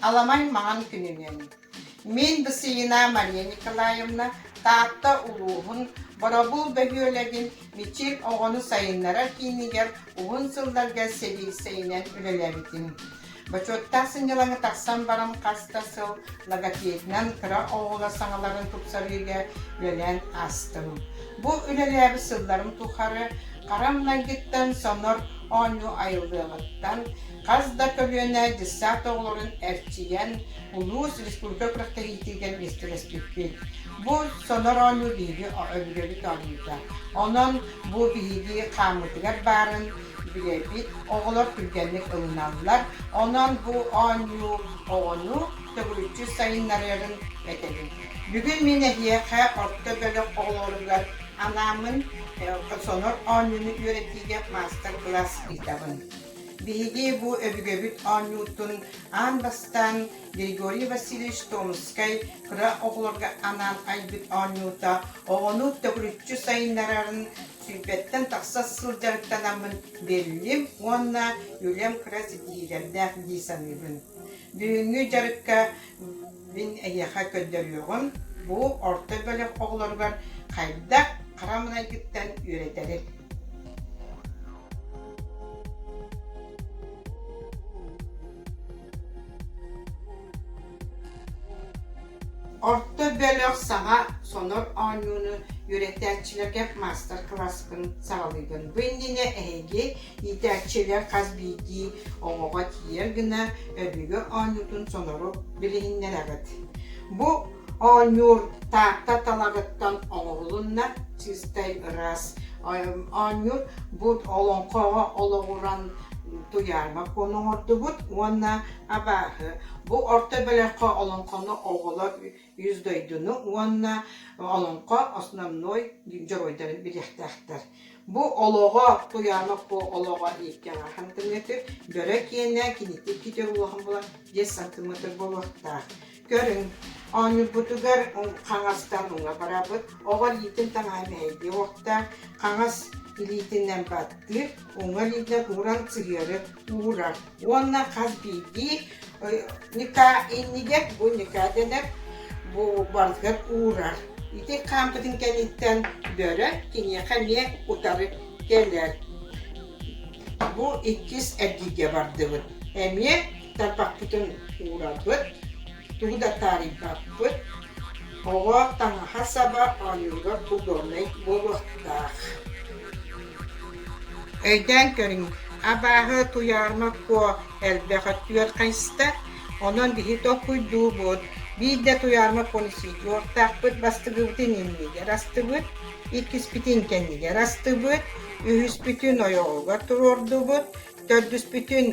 Аламай маҥан күнүнэн Мин Дысыина Мария Николаевна Таатта улууһун Боробул бөһүөлэгин Мичил оҕону сайыннарар киинигэр уһун сылларга сэриисэйинэн үлэлээбитим. Бочуоттаах сынньалаҥы тахсан баран хас да сыл логопедынан кыра оҕолор саҥаларын тупсарыыга үлэлээн аастым. Бу үлэлээбит сылларым тухары харам майгыттан сонор оонньуу айыллыаҕыттан хас да көлүөнэ дьыссаат оҕолорун эрчийэн улуус, республика күрэхтэһиитигэр миэстэлэспиппит. Бу сонор оонньуу биһиги өбүгэбит оонньуута. Онон бу биһиги хааммытыгар баарын Үөбүт оҕолор түргэнник ылыналлар, онон бу оонньуу оҕону төгүрүччү сайыннарыарын этэбин. Бүгүн мин эһиэхэ орто бөлөх оҕолоругар анаамын Сонор оонньууну үөрэтиигэ маастар-кылаас ыытабын. Биһиги бу өбүгэбит оонньуутун аан бастаан Григорий Васильевич Томскай кыра оҕолорго анаан айбыт оонньуута оҕону төгүрүччү сайыннарарын Сүүппэттэн тахса сылдьарыктанаммын биллим уонна үлэм кыра ситиһиилэрдээх дии саныыбын. Бүгүҥҥү дьарыкка мин эһиэхэ көрдөрүөҕүм, бу орто бөлөх оҕолоругар хайдах хара майгыттан үөрэтэрин. Орто бөлөх саҥа сонор оонньууну үөрэтээччилэргэ маастар-кылааскын саҕалыыгын. Бу иннинэ эһиги иитээччилэр хас биирдии оҕоҕо тиийэр гына өбүгэ оонньуутун сонору билиһиннэрэҕит. Бу оонньуур Таатта талаҕыттан оҥоһулунна чистай ыраас. Оонньуур бу олоҥхоҕо олоҕуран туйаарыма куону оҥордубут уонна Абааһы бу орто бөлөххө олоҥхону оҕолор үс дойдуну уонна олоҥхо основной дьоруойдарын билиэхтээхтэр. Бу олоҕо Туйаанов бу олоҕо ииккэҥ ахан тымнытыр, бөрө киэнэ, кинитик китир улахан була диэс сантыметр буолуохтаах. Көрүҥ, оонньуурбутугар хаҥастан уҥа барабыт. Оҕо илиитин таҥаһа мэһэйдиэ уохтаах. Хаҥас илиитинэн баттыыр, уҥа илиитинэн уран сыһыары уурар. Уонна хас биирдии ньыкаа иннигэр, бу ньыкаа дэнэр, бу баргар уурар. Ити хаампытын кэнниттэн бөрө киниэхэ эмиэ утары кэлэр. Бу иккис эргииргэ бардыбыт. Эмиэ тарбахпытын уурабыт, тугу да таарыйбаппыт. Оҕо таҥаһа-саба оонньуура удобнай буолуохтаах. Өйдөөн көрүҥ, абааһы Туйаарма Куо элбэх өттүгэр хайыста, онон биһи толкуйдуубут. Биир да Туйаарма Куону суохтаахпыт, бастыгыбытын иннигэр астыбыт, иккиспитин кэннигэр астыбыт, үһүспүтүн ойоҕугар туруордубут, төрдүспүтүн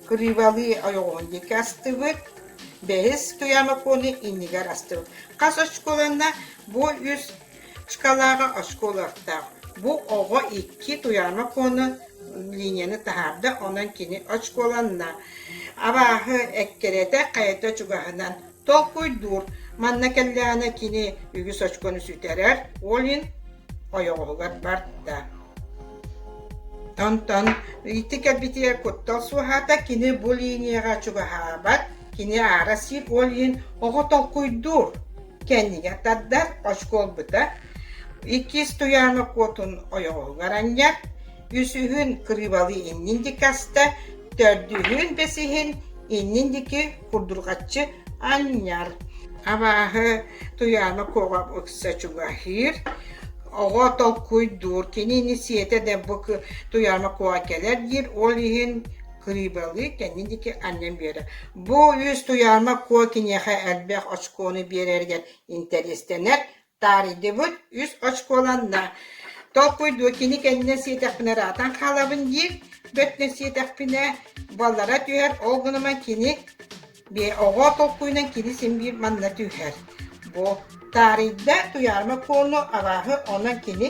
Кырыыбалыы ойоҕоһун диэки астыбыт, бэһис Туйаамаконы иннигэр астыбыт. Хас оскуоланна бу үс шкалааҕа оскуолалардаах. Бу оҕо икки Туйаамакону линияны таһаарда, онон кини очколанна. Абааһы эккирэтэ хайата чугаһынан Толкуйдуур, манна кэллэҕинэ кини үгүс очкону сүтэрэр, Олин ойоҕоһугар барда. Онтон ити кэлбитигэр куттал суоһаата, кини бу линияҕа чугаһаабат, кини аара сир Олин оҕо толкуйдуур, кэннигэр тардар, очко ылбыта, иккис туйаана куотун ойоҕоһугар анньар, үсүһүн кырыыбалыы иннин диэки аста, төрдүһүн бэсиһин иннин диэки курдурҕаччы анньар. Абааһы Туйаана куоҕа ыкса чугаһыыр. Оҕо толкуйдуур, кинини сиэтэ да бу Туйаана куоҕа кэлэр диир, ол иһин кырыыбалыы кэннин диэки анньан биэрэр. Бу үс Туйаана куо киниэхэ элбэх очкону биэрэригэр интэриэстэнэр, Таарыйдыбыт, үс очколанна. Толкуйдуу, кини кэннэ сиэтэхпинэ ыраатан хаалабын диир, бөтнө сиэтэхпинэ, буоллара түһэр, ол гынан кини оҕо толкуйунан кини син биир манна түһэр. Бу таарыйда, туйаарыма куолу, абааһы онон кини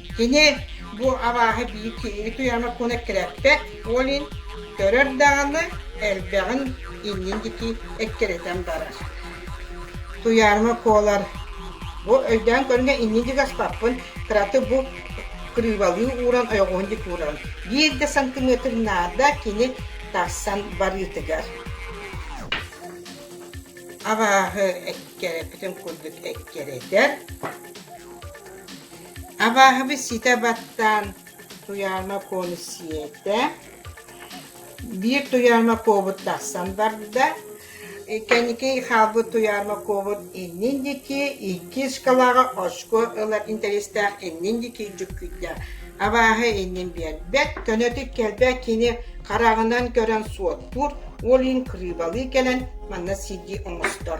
Кини бу абааһы биир киһини туйаана куна эккирэппэт, ол иһин көрөр даҕаны элбэҕин иннин диэки эккирэтэн барар. Туйааныма куолар бу өйдөөн көрүҥэ иннин диэки аспаппын, кыраты бу кырыыбалыы ууран, ойоҕуһун диэки ууран, биир да сантиметр наада кини тахсан барыытыгар. Абааһы эккирэппитин курдук эккирэтэр, Абааһыны ситэ баттаан Туйаана Куону сиэтэ, биир Туйаана Куобут тахсан барда, кэнники хаалбыт Туйаана Куобут иннин диэки иккис кылааҕы очко ылар интэриэстээх иннин диэки дьүккүйдэ. Абааһы иннин биэрбэт, көнөтүк кэлбэт кини хараҕынан көрөн суоттуур, ол иһин кырыыбалыы кэлэн манна сирдии оҥостор.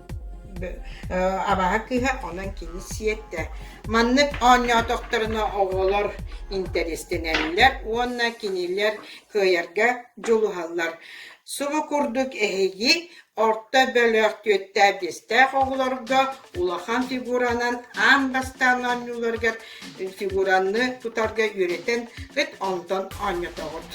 Абааһы кыыһа онон кини сиэттэ. Маннык оонньоотохторуна оҕолор интэриэстэнэллэр уонна кинилэр кыайарга дьулуһаллар. Субу курдук эһиги орто бөлөх түөртээх биэстээх оҕолорго улахан фигуранан аан бастаан оонньууларыгар фигураны тутарга үөрэтэн ыт онтон оонньотоҕут.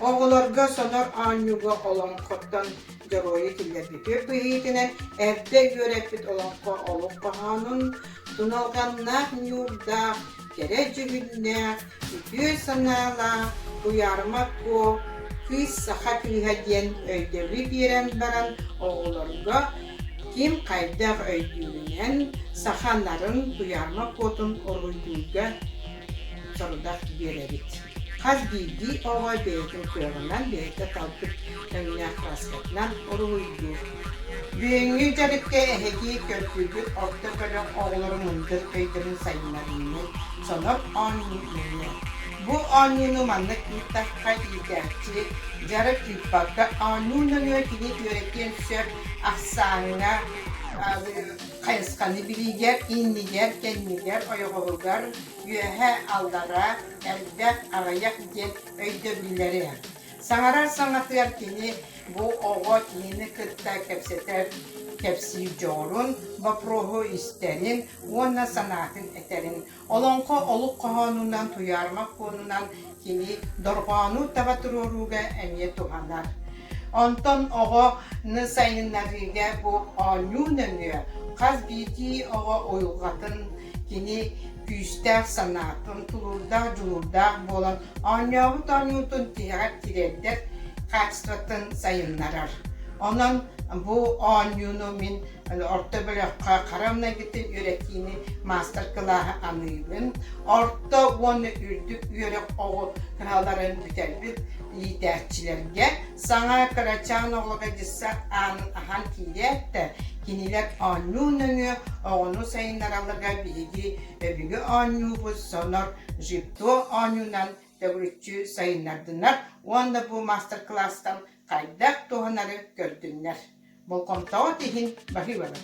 Оҕолорго сонор оонньууга олоҥхоттон дьоруойу киллэрбит түөрт быһыытынан эрдэ үөрэппит олоххо олох хоһоонун, туналҕаннаах ньуурдаах, кэрэ дьүһүннээх, үтүө санаалаах Куйаарыма Куо кыыс саха кыыһа диэн өйдөбүл биэрэн баран оҕолорго ким хайдах өйдүүрүнэн саха нарын Куйаарыма Куотун уруйдуурга сорудах биэрэбит. Хас биирдии оҕо бэйэтин кыаҕынан бэйэтэ талбыт тэҥнээх таскатынан уруһуйдуур. Бүгүҥҥү дьарыкка эһэтии көрсүбүт орто бөлөх оҕолоро мындыр өйдөрүн сайыннарыыны сонор оонньууну Бу оонньууну маннык ыыттахха иитээччи дьарык ыыппакка оонньуу нөҥүө кини үөрэтиэн сөп ахсааҥҥа хайысханы билигэр, иннигэр, кэннигэр, ойоҕоһугар, үөһэ, аллараа, элбэх, аҕыйах диэн өйдөбүллэри Саҥарар саҥатыгар кини бу оҕо киһини кытта кэпсэтэр кэпсиир дьоҕурун, бопруоһу истэрин уонна санаатын этэрин. Олоҥхо олук хоһоонунан, туйаарымах пуонунан кини дорҕоону таба туруорууга эмиэ туһанар. Онтон оҕону сайыннарыыга бу оонньуу нөҥүө хас биирдии оҕо уйулҕатын кини күүстээх санаа, омтулуурдаах, дьулуурдаах буолан оонньообут оонньуутун тиһэҕэр тириэрдэр качествотын сайыннарар. Онон бу оонньууну мин орто бөлөххө хара многитин үөрэтиини маастар-кылааһы аныыбын. Орто уонна үрдүк үөрэх оҕо кыһаларын бүтэрбит иитээччилэргэ Саҥа кырачаан оҕолорго дьизсэ аанын аһан киириэт да, кинилэр оонньуу нөҥүө оҕону сайыннараллара биһиги өбүгэ оонньуубут сонор жипто оонньуунан төгүрүччү сайыннардынар уонна бу маастар-кылаастан хайдах туһанары көрдүннэр. Болҕомтоҕут иһин баһыыбалар.